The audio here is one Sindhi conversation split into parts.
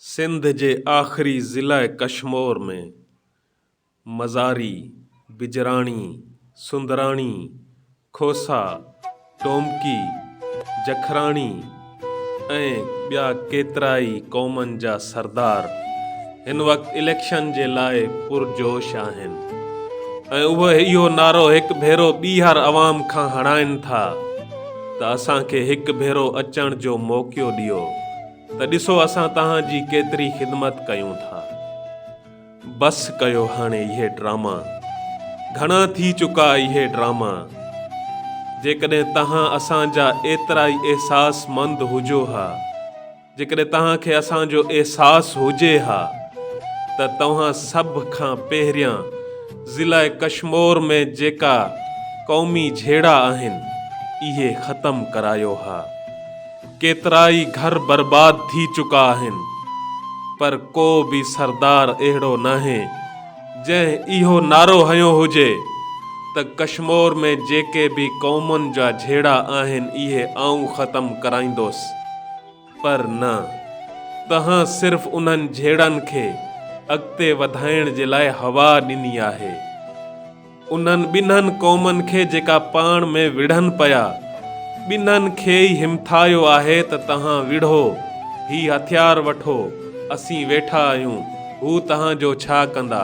سنڌ جي آخري ضلع ڪشمور ۾ مزاري، بجراڻي، سندراڻي، کوسا، ٽومڪي، جکراڻي ۽ ٻيا ڪيترائي قومن جا سردار، هن وقت اليڪشن جي لاء پرجوش آهن ۽ اهي اهو نعرو هڪ ڀيرو ٻيهر عوام کان هڻائين ٿا ته اسان کي هڪ ڀيرو اچڻ جو موقعو ڏيو ته ڏسو اسان توهان جي ڪيتري خدمت ڪيون ٿا. بس ڪيو هاڻي اهي ڊراما. گهڻا ٿي چڪا اهي ڊراما. جيڪڏهن توهان اسان جا ايترائي احساس مند هجو ها. جيڪڏهن توهان کي اسان جو احساس هجي ها ته توهان سڀ کان پهريان ضلع ڪشمور ۾ جيڪا قومي جهيڙا آهن اهي ختم ڪرايو ها. ڪيترائي گهر برباد ٿي چڪا آهن پر ڪو به سردار اهڙو ناهي جنهن اهو نعرو هنيو هجي ته ڪشمور ۾ جيڪي به قومن جا جهيڙا آهن اهي آئون ختم ڪرائيندوس پر نه تنهن صرف انهن جهيڙن کي اڳتي وڌائڻ جي لاء هوا ڏني آهي. انهن ٻنهن قومن کي جيڪا پاڻ ۾ وڙهن پيا، ٻنهن کي ئي همٿايو آهي ته توهان وڙهو، هي هٿيار وٺو، اسين ويٺا آهيون، هو توهان جو ڇا ڪندا؟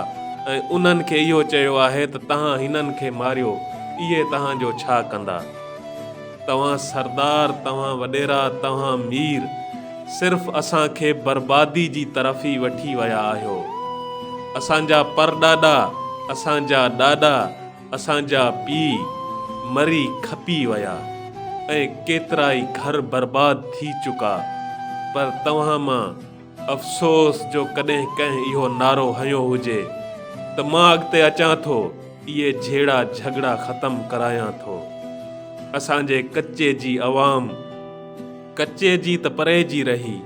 ۽ انهن کي اهو چيو آهي ته توهان هنن کي ماريو، اهي توهان جو ڇا ڪندا؟ توهان سردار، توهان وڏيرا، توهان مير صرف اسان کي بربادي جي طرف ئي وٺي ويا آهيو. اسان جا پرڏاڏا، اسان جا ڏاڏا، اسان جا پيء مري کپي ويا ۽ ڪيترائي گهر برباد ٿي چڪا پر توهان مان افسوس جو ڪڏهن ڪنهن اهو نعرو هنيو هجي ته مان اڳتي اچان ٿو اهي جهيڙا جهڳڙا ختم ڪرايان ٿو اسان جي ڪچي جي عوام ڪچي جي ته پري جي رهي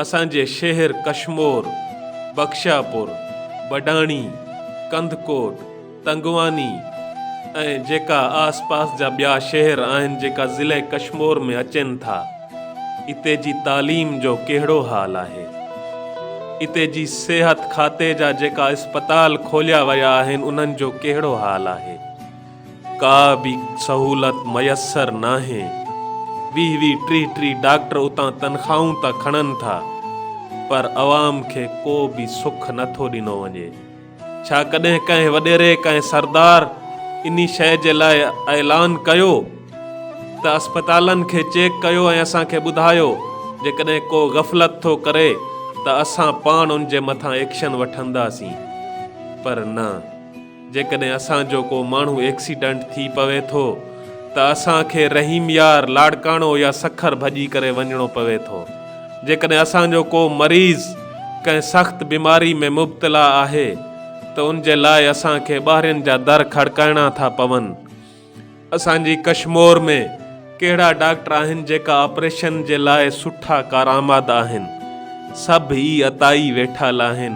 اسان جي شهر ڪشمور بخشاپور بڊاڻي ڪنڌڪوٽ تنگواني ۽ جيڪا آس پاس جا ٻيا شهر آهن جيڪا ضلع ڪشمور ۾ اچين ٿا اتي جي تعليم جو ڪهڙو حال آهي اتي جي صحت کاتي جا جيڪا اسپتال کوليا ويا آهن انهن جو ڪهڙو حال آهي ڪا به سهولت ميسر ناهي ويهه ويهه ٽيهه ٽيهه ڊاڪٽر اتان تنخواهون ته کڻن ٿا پر عوام کي ڪو به سک نٿو ڏنو وڃي. ڇا ڪڏهن ڪنهن وڏيري، ڪنهن سردار انهي شيء جي لاء اعلان ڪيو ته اسپتالن کي چيڪ ڪيو ۽ اسان کي ٻڌايو، جيڪڏهن ڪو غفلت ٿو ڪري ته اسان پاڻ ان جي مٿان ايڪشن وٺنداسين؟ پر نه، جيڪڏهن اسان جو ڪو ماڻهو ايڪسيڊنٽ ٿي پوي ٿو ته اسان کي رحيم يار، لاڙڪاڻو يا سکر ڀڄي ڪري وڃڻو پوي ٿو. جيڪڏهن اسان جو ڪو مريض ڪنهن سخت بيماري ۾ مبتلا آهي ته ان جي لاء اسان کي ٻاهرين جا در کڙڪائڻا ٿا پون. اسان جي ڪشمور ۾ ڪهڙا ڊاڪٽر آهن جيڪا آپريشن جي لاء سٺا ڪارآمد آهن. سڀ ئي اتائي ويٺل آهن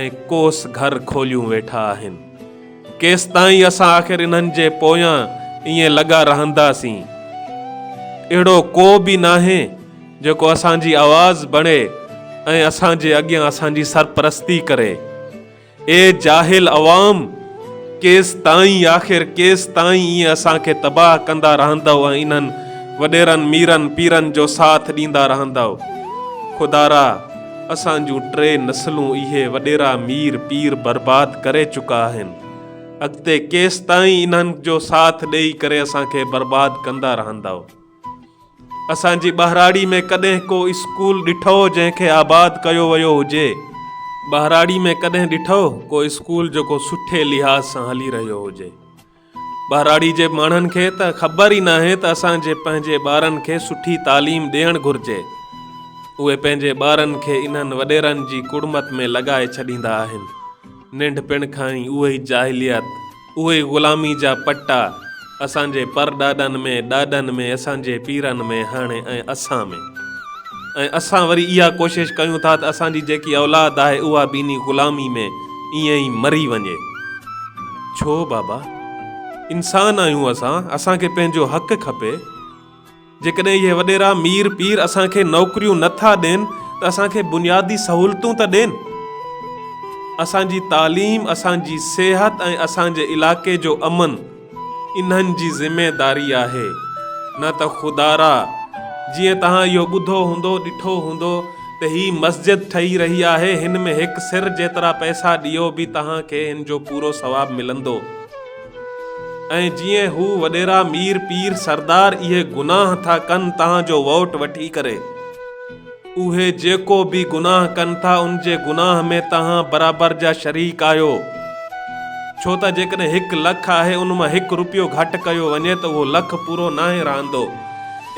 ۽ ڪوس گهر کوليون ويٺا آهن. ڪيستائين اسان آخر انهن جي پويان ائين لڳا رهنداسين. اهڙو ڪو به ناهي جيڪو اسان جي آواز بڻي ۽ اسان جي اڳيان اسان جي سرپرستي ڪري. اي جاهل عوام! ڪيستائين آخر ڪيستائين ائين اسان کي تباهه ڪندا رهندؤ ۽ انهن وڏيرن ميرن پيرن جو ساٿ ڏيندا رهندؤ. خدارا! اسان جون ٽي نسلون اهي وڏيرا مير پير برباد ڪري چڪا آهن. اڳتي ڪيستائين انهن جو ساٿ ڏيئي ڪري اسان کي برباد ڪندا رهندؤ. اسان جي ٻهراڙي ۾ ڪڏهن ڪو اسڪول ڏٺئو جنهن کي آباد ڪيو ويو هجي؟ ٻهراڙي ۾ ڪڏهن ڏٺئو ڪو اسڪول جيڪو سٺي لحاظ سان هلي رهيو هجي؟ ٻهراڙي جي ماڻهن کي ته خبر ئي ناهي ته اسان جي پنهنجي ٻارن کي سٺي تعليم ڏيڻ گهرجي. اهي پنهنجي ٻارن کي انهن وڏيرن جي ڪڙمت ۾ لڳائي ڇڏيندا آهن. ننڍپڻ کان ئي اهوئي جاهليت. اهي غلامي جا پٽا اسان جي پرڏاڏن ۾، ڏاڏن ۾، اسان جي پيرن ۾ هاڻي ۽ اسان ۾. ۽ اسان وري اها ڪوشش ڪيون ٿا ته اسان جي جيڪي اولاد آهي اها به انهي غلامي ۾ ائين ئي مري وڃي. ڇو بابا؟ انسان آهيون اسان، اسان کي پنهنجو حق کپي. جيڪڏهن اهي وڏيرا، مير، پير اسان کي نوڪريون نه ٿا ڏين ته اسان کي بنيادي سهولتون ته ڏين. اسان جي تعليم، اسان جي صحت ۽ اسان جي علائقي جو امن انهن جي ذميداري آهي. نه ته خدارا جيئن توهان اهو ٻڌو هوندو، ڏٺو هوندو ته هي مسجد ٺهي رهي آهي، هن ۾ هڪ سر جيترا پئسا ڏيو به توهان کي هن جو پورو ثواب ملندو. ۽ جيئن هو وڏيرا مير پير سردار اهي گناهه ٿا ڪن تان جو ووٽ وٺي ڪري اهي جيڪو به گناهه ڪن ٿا ان جي گناهه ۾ تهان برابر جا شريڪ آهيو ڇو ته جيڪڏهن هڪ لک آهي ان مان هڪ روپيو گهٽ ڪيو وڃي ته اهو لک پورو ناهي رهندو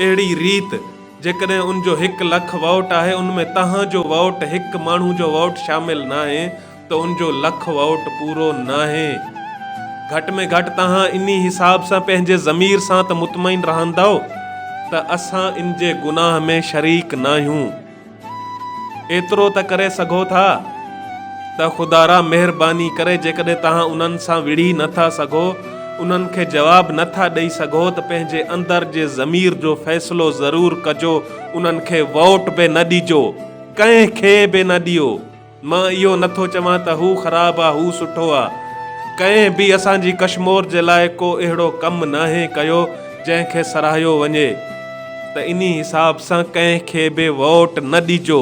اهڙي ريت جيڪڏهن ان جو هڪ لک ووٽ آهي ان ۾ تهان جو ووٽ هڪ ماڻهو جو ووٽ شامل ناهي تنهنجو لک ووٽ پورو ناهي. گهٽ ۾ گهٽ توهان انهي حساب سان پنهنجي ضمير سان ته مطمئن رهندؤ ته اسان ان جي گناهه ۾ شريڪ ناهيون. ايترو ته ڪري سگهو ٿا ته خدارا مهرباني ڪري جيڪڏهن توهان انهن سان وڙهي نه ٿا سگهو، انهن کي جواب نه ٿا ڏئي سگهو ته پنهنجي اندر جي ضمير جو فيصلو ضرور ڪجو، انهن کي ووٽ به نه ڏجو. ڪنهن کي به نه ڏيو. مان اهو نه ٿو چوان ته هو خراب آ هو سٺو آ ڪنهن به اسان جي ڪشمور جي لاء ڪو اهڙو ڪم ناهي ڪيو جنهن کي سراهيو وڃي ته انهي حساب سان ڪنهن کي به ووٽ نه ڏجو.